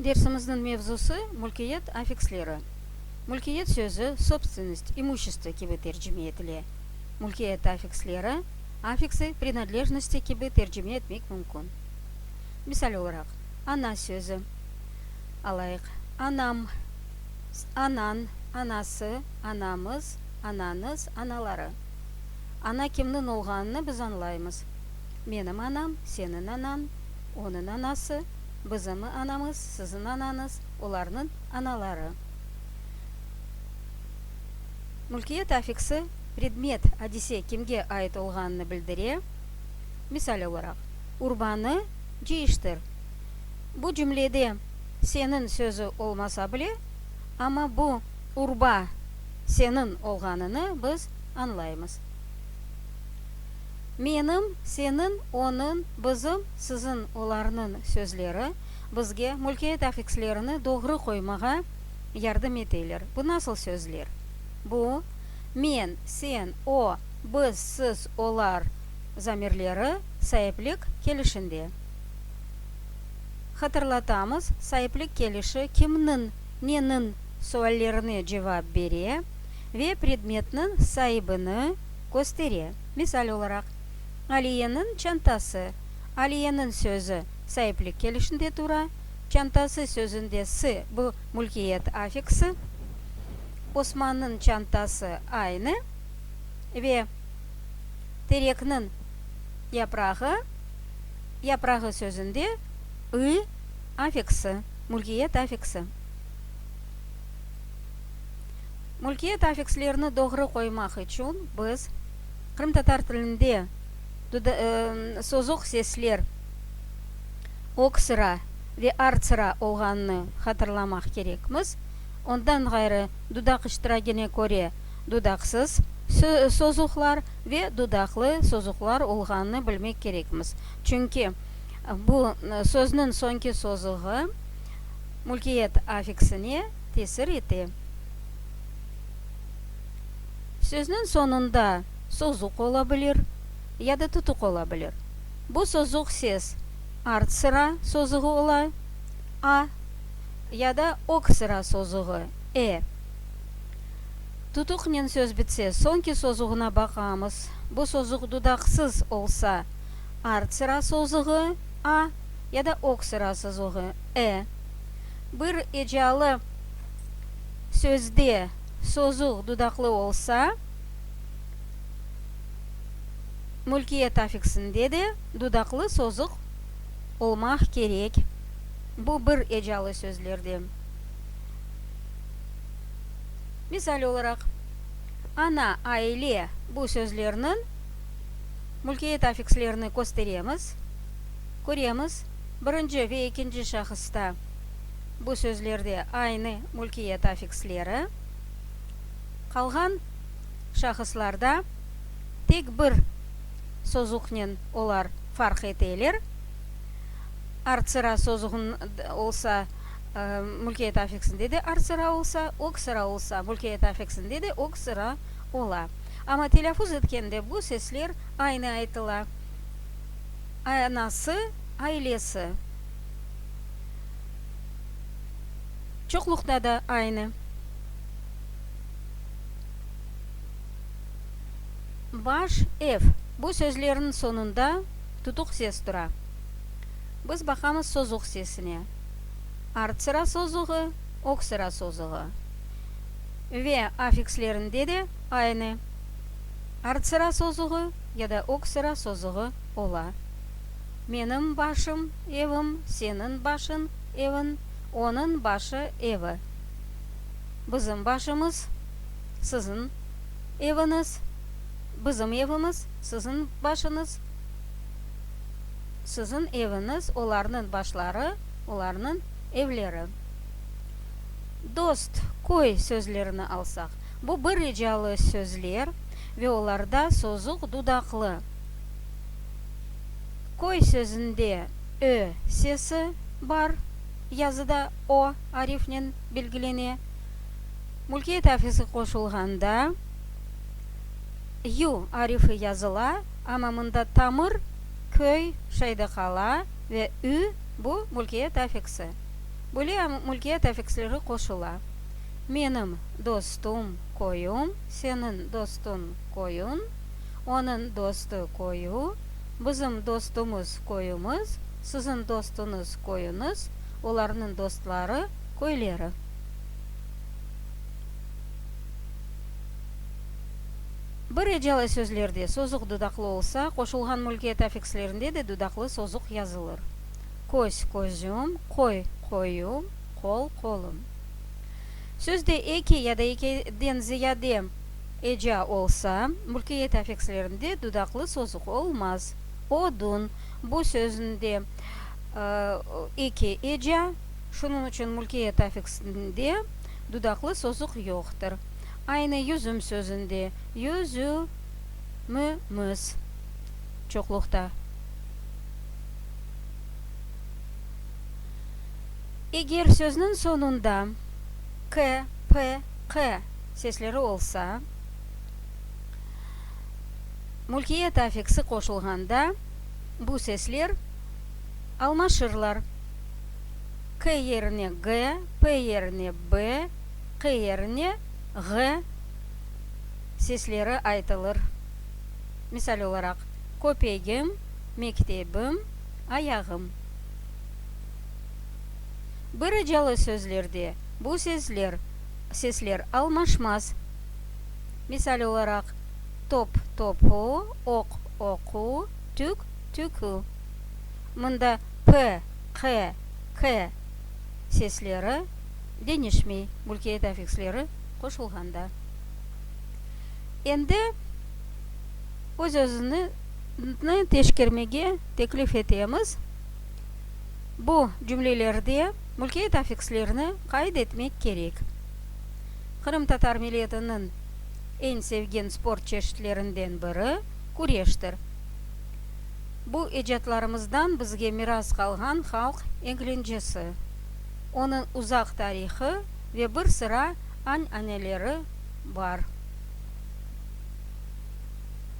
Dersimizniñ mevzusı, mülkiyet affiksleri. Mülkiyet sözü sobstvennost, imuşestvo kibi tercime etile. Mülkiyet affiksleri, affiksi prinadlejnosti kibi tercime etmek mümkün. Misal olaraq, ana sözü alayıq, anam, anañ, anası, anamız, anañız, anaları. Ana kimniñ olğanını biz añlaymız, menim anam, seniñ anañ, Onıñ anası, bizim anamız, siziñ anañız, olarnıñ anaları. Mülkiyet affiksi predmet, adise, kimge ait olğanını bildire. Misal olaraq, urbanı cıyıştır. Bu cümlede seniñ sözü olmasa bile, amma bu urba seniñ olğanını biz añlaymız. Menim, seniñ, onıñ, bizim, siziñ, olarnıñ sözleri bizge mülkiyet afikslerini doğru qoymağa yardım eteler. Bu nasıl sözler? Bu, men, sen, o, biz, siz, olar, zamirleri saiplik kelişinde. Hatırlatamız, saiplik kelişi kimniñ, neniñ suallerine cevap bere ve predmetniñ saibini, Köstere, misal olaraq, Aliyeniñ çantası, Aliyeniñ sözü, saiplik kelişinde tura, çantası sözünde sı, bu mülkiyet affiksi, Osmannıñ çantası aynı ve terekniñ yaprağı, yaprağı sözünde ı affiksi, mülkiyet affiksi. Mülkiyet affikslerini doğru qoymaq içün biz qırımtatar tilinde sozuq sesler oksıra ve artsıra olğanını hatırlamaq kerekmiz. Ondan ğayrı dudaq iştiragine köre dudaqsız sozuqlar ve dudaqlı sozuqlar olğanını bilmek kerekmiz. Çünki bu sözniñ soñki sozuğı mülkiyet affiksine. tesir ete. Sözniñ soñunda sozuq ola bilir ya da tutuq ola bilir. Bu sozuq ses art sıra sozuğı ola, a, ya da ög sıra sozuğı, e. Tutuqnen söz bitse, soñki sozuğına baqamız. Bu sozuq dudaqsız olsa, art sıra sozuğı, a, ya da ög sıra sozuğı, e. Bir ecalı sözde sozuv dudaqlı olsa, mülkiyet afiksinde de dudaqlı sozuq olmaq kerek. Bu bir ecalı sözlerde. Misal olaraq, ana, aile, bu sözlerniñ mülkiyet afikslerini kösteremiz, köremiz. birinci ve ekinci şahısta bu sözlerde aynı mülkiyet afiksleri, qalğan şahıslarda tek bir sozuqnen olar farq eteler, artsıra sozuqnıda olsa, mülkiyet afiksinde de artsıra olsa, öksıra olsa, mülkiyet afiksinde de öksıra ola. Amma telâfuz etkende bu sesler aynı aytıla. anası, ailesi çoqluqta da aynı. Baş ev. Bu sözlerniñ soñunda tutuq ses tura. Biz baqamız sozuq sesine. Artsıra sozuğı, öksıra sozuğı. Ve affikslerinde de aynı. Artsıra sozuğı ya da öksıra sozuğı. ola. Menim başım, evim, seniñ başıñ, eviñ, onıñ başı, evi. Bizim başımız, siziñ eviñiz, bizim evimiz, siziñ başıñız, siziñ eviñiz, olarnıñ başları, olarnıñ evleri. Dost, köy sözlerini alsaq, bu bir ricalı sözler ve olarda sozuq dudaqlı, Köy sözünde ö sesi bar, yazıda o arifnen belgilene. Mülkiyet afisi qoşulğanda yu arifi yazıla, amma mında tamır, köy, şeyde qala ve ü, bu mülkiyet afiksi. Böyle mülkiyet afiksleri qoşula. Menim dostum, köyüm, seniñ dostuñ, köyüñ. Onıñ dostu köyü, bizim dostumız köyümiz, siziñ dostuñız köyüñiz, olarnıñ dostları köyleri. Bir ecalı sözlerde sozuq dudaqlı olsa, qoşulğan mülkiyet afikslerinde de dudaqlı sozuq yazılır, köz, közüm, qoy, qoyum, qol, qolum. Sözde eki ya da ekiden ziyade. Eca olsa, mülkiyet afikslerinde dudaqlı sozuq olmaz. Odun, bu sözünde eki eca, şunıñ içün mülkiyet afiksinde dudaqlı sozuq yoqtır. Aynı yüzüm sözünde yüzümimiz, çoqluqta. Eger sözniñ soñunda k, p, q. sesleri olsa, mülkiyet afiksi qoşulğanda bu sesler almaşırlar, k yerine g, p yerine b, q yerine ğ sesleri aytılır. Misal olaraq, köpegim, mektebim, ayağım. Bir icalı sözlerde bu sesler. sesler almaşmaz. Misal olaraq, top, topu, oq, oqu, tük, tükü. Mında p, q, k sesleri deñişmey, mülkiyet afiksleri qoşulğanda. Endi öz-özüni teşkermege teklif etemiz. Bu cümlelerde mülkiyet afikslerini qayd etmek kerek. Qırımtatar milletiniñ eñ sevgen sport çeşitlerinden biri, küreştir. Bu ecatlarımızdan bizge miras qalğan halq eğlencesi, onıñ uzaq tarihı ve bir sıra añ-aneleri bar.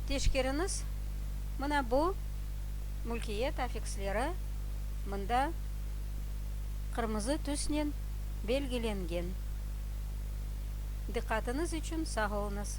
Teşkeriñiz, mına bu. Mülkiyet affiksleri mında qırmızı tüsnen belgilengen. Diqqatıñız içün sağ oluñız!